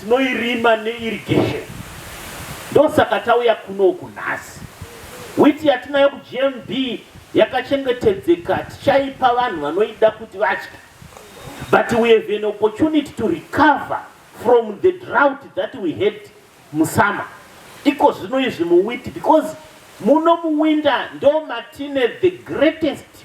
Tinoirima ne irrigation ndosaka tauya kuno uku nhasi. Wheat yatinayo ku GMB yakachengetedzeka tichaipa vanhu vanoida kuti vadye but we have an opportunity to recover from the drought that we had mu summer iko zvino izvi mu wheat because muno mu winter ndomatine the greatest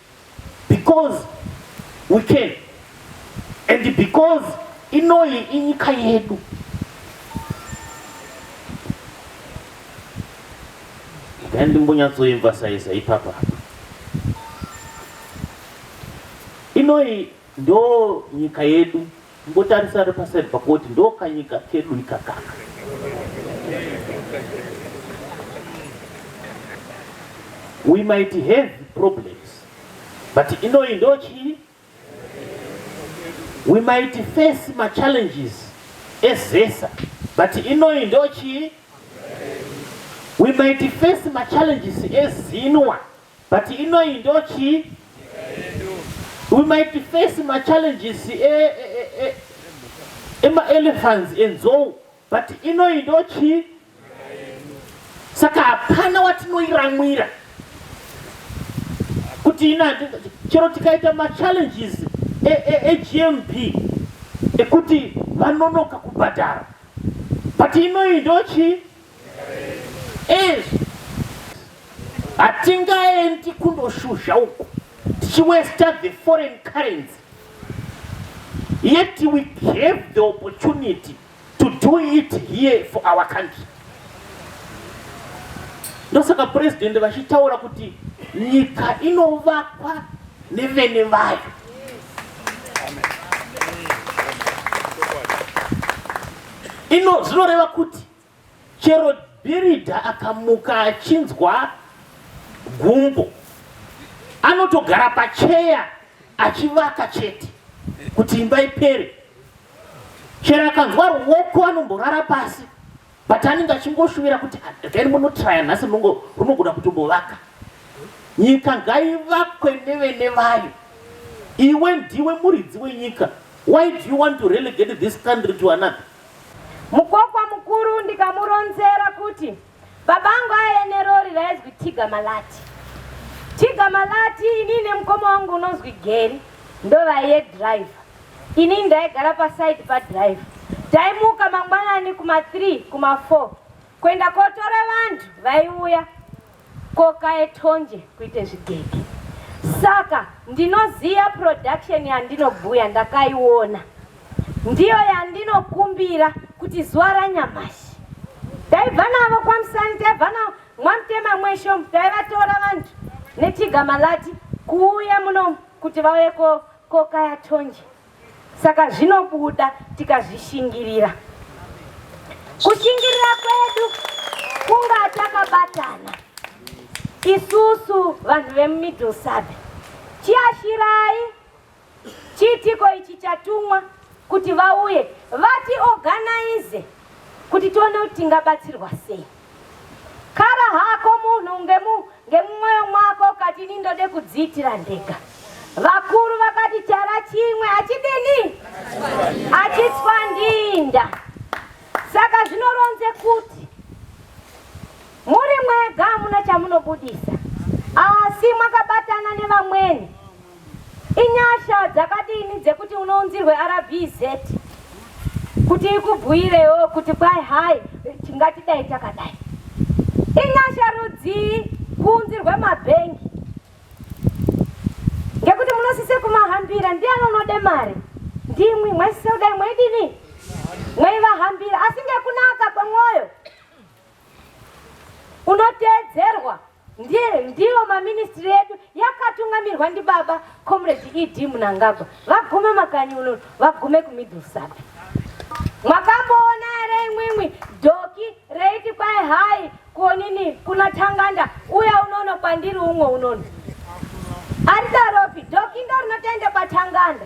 Because we can and because inoyi inyika yedu dai ndimbonyatsoemvasaisa ipapa inoyi ndo nyika yedu Kungotarisa ari paside pako woti ndo kanyika kedu ikakaka. We might have problems but inoyi ndo chii? We might face ma challenges ezesa but inoyi ndo chii? We might face ma challenges ezinwa But inoyi ndo chii? We might face ma challenges e, e, e, e, ema elephants enzou but inoyi ndo chii? Saka hapana watinoiramwira kuti ina chero tikaita ma challenges e, e, e GMP ekuti vanonoka kubhadhara but inoyi ndo chii? izvi hatingaendi kundoshuzha uku tichiwesta the foreign currency yet we have the opportunity to do it here for our country ndosaka purezidhendi vachitaura kuti nyika inovakwa nevene vayo ino zvinoreva kuti Chero Bhiridha akamuka achinzwa gumbo anotogara pacheya achivaka chete kuti imba ipere. Chero akanzwa ruoko anomborara pasi but anenge achingoshuvira kuti then munotraya nhasi runogona kutombovaka. Nyika ngaivakwe nevene vayo. Iwe ndiwe muridzi wenyika. Why do you want to relegate this country to another? Mukokwa mukuru ndikamuronzera kuti babangu aye nerori raizwi Tiga Malati. Tiga Malati ini nemukoma wangu unonzwi Geri ndovaiye driver. Ini ndaigara paside padriver. Taimuka mangwanani kuma 3 kuma 4 kuenda kotora vanhu vaiuya koka etonje kuite zvigege saka ndinoziva production yandinobhuya ndakaiona ndiyo yandinokumbira kuti zuva ranyamashi taibva navo kwamusani taibva navo mwamutema mwesho taivatora vanhu nechigamalati kuuya muno kuti vauye koka yatonje Saka zvinobuda tikazvishingirira. Kushingirira kwedu kunga takabatana isusu vanhu vemumiddle sub chiashirai chiitiko ichi chatumwa kuti vauye vatiorganize kuti tione kuti tingabatsirwa sei Kara hako munhu ngemu ngemumwoyo mwako ukati ini ndode kudziitira ndega. Vakuru vakati chara chimwe achidini? Achitswa ndinda. Saka zvinoronze kuti muri mwega hamuna chamunobudisa asi mwakabatana nevamweni Inyasha dzakadini dzekuti unounzirwe RBZ kuti ikubhuirewo kuti kwai hai tingatidai takadai. Inyasha rudzii kuunzirwe mabhengi ngekuti munosise kumahambira ndiani unode mari ndimwi mwaisise kudai mwaidini mwaivahambira asi ngekunaka kwemwoyo unoteedzerwa ndiye ndiyo maministry edu yakatungamirwa ndibaba comrade ed munangagwa vagume makanyi uno vagume kumiddle sub mwakamboona here imwimwi dhoki reiti kwai hai konini kuna tanganda uya unono kwandiri umwe unono aridaropi dhoki ndo rinotoenda kwatanganda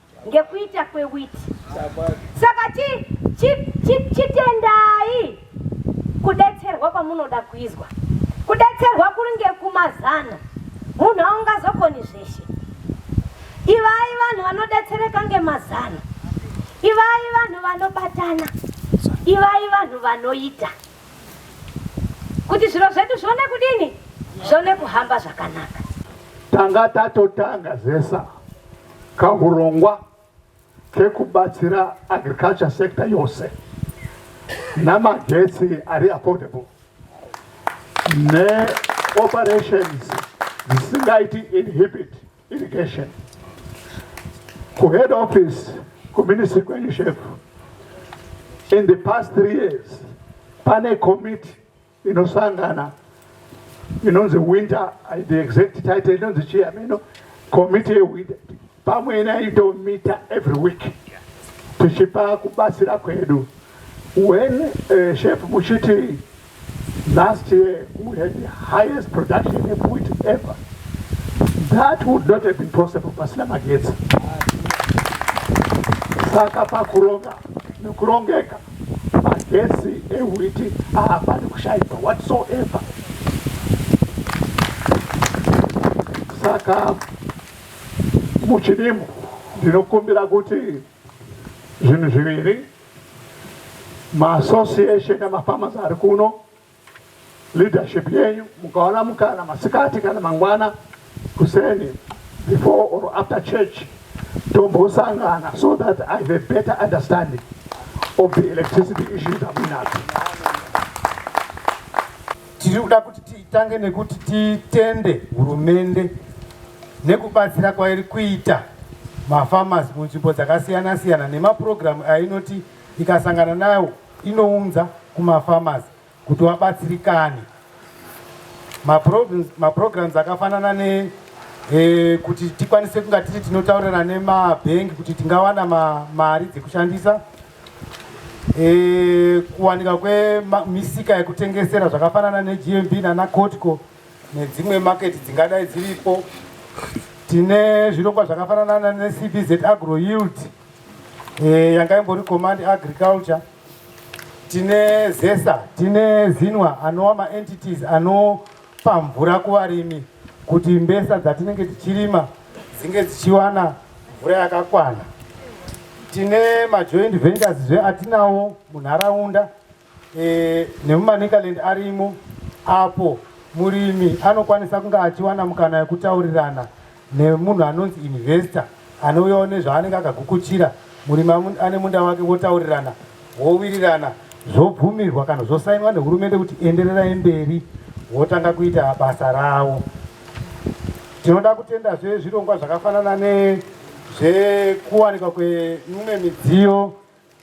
ngekuita kwewiti saka chitendai kudetserwa kwamunoda kuizwa kudetserwa kuri ngekumazana munhu aungazokoni zveshe ivai vanhu vanodetsereka ngemazana ivai vanhu vanobatana ivai vanhu vanoita kuti zviro zvedu zvione kudini zvione kuhamba zvakanaka tanga tatotanga zesa kahurongwa kekubatsira agriculture sector yose namagetsi ari affordable neoperations dzisingaiti inhibit irrigation kuhead office kuministry kwenyu shef in the past three years pane committee inosangana inonzi winter the exact title inonzi chii ameno committee yewinter pamwe inaitomita every week tichipa kubatsira kwedu when uh, shef muchiti Last year we had the highest production of wheat ever. That would not have been possible pasina magetsi. Saka pakuronga nekurongeka magetsi ewhiti haapani kushaikwa whatsoever. Saka muchidimbu ndinokumbira kuti zvinhu zviviri Maassociation emafarmers ari kuno, leadership yenyu mukaona mukana masikati kana mangwana kuseni before or after church tombosangana so that I have a better understanding of the electricity issues that we have. Tiri kuda kuti titange nekuti titende hurumende nekubatsira kwairi kuita mafarmers munzvimbo dzakasiyana siyana nemapurogiramu ainoti ikasangana nayo inounza kumafarmers kuti wabatsirikane maprograms akafanana ne e, kuti tikwanise kunga tiri tinotaurira nemabhengi kuti tingawana mari dzekushandisa E, kuwanika kwemisika yekutengesera zvakafanana neGMB nana Cotco nedzimwe maketi dzingadai dziripo. Tine zvirongwa zvakafanana neCBZ Agro Yield e, yanga imbori Command Agriculture. Tine ZESA, tine ZINWA anova maentities ano Kupa mvura kuvarimi kuti mbesa dzatinenge tichirima dzinge dzichiwana mvura yakakwana. Tine majoint ventures zve atinawo munharaunda e, nemumanicaland arimo apo murimi anokwanisa kunge achiwana mukana yekutaurirana nemunhu anonzi investor anouyawo nezvaanenge akagukuchira murimi ane munda wake votaurirana vowirirana zvobvumirwa kana zvosainwa nehurumende kuti endererai mberi votanga kuita basa ravo tinoda kutenda zve zvirongwa zvakafanana nezvekuwanikwa kwemimwe midziyo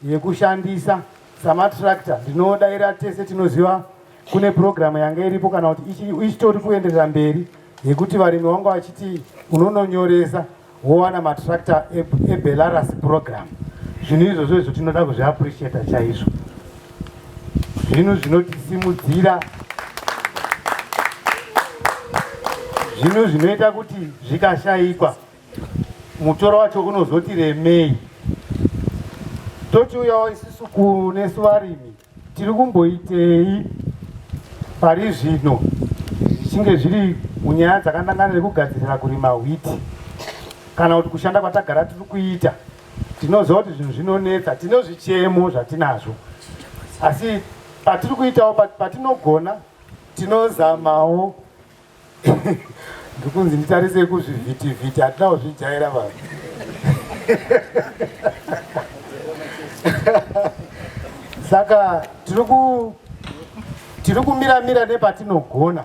yekushandisa samatractor ndinodaira tese tinoziva kune purogiramu yanga iripo kana kuti ichitori kuenderera mberi yekuti varimi vanga vachiti unononyoresa wowana matractor ebelarus purogiramu zvinhu izvozvo izvo tinoda kuzviappreciata chaizvo zvinhu zvinotisimudzira zvinhu zvinoita kuti zvikashaikwa mutoro wacho unozoti remei tochiuyawo isisu kunesu varimi tiri kumboitei pari zvino zvichinge zviri munyaya dzakandangana nekugadzirira kurima hwiti kana kuti kushanda kwatagara tiri kuita tinoziva kuti zvinhu zvinonetsa tino zvichemo zvatinazvo asi patiri kuitawo patinogona tinozamawo ndikunzi nditarisei kuzvivhitivhiti hatina kuzvijaira vanhu saka tiri kumira mira nepatinogona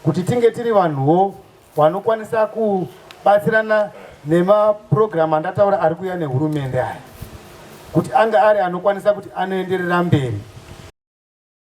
kuti tinge tiri vanhuwo vanokwanisa kubatsirana nemapurogiramu andataura ari kuuya nehurumende aya kuti ange ari anokwanisa kuti anoenderera mberi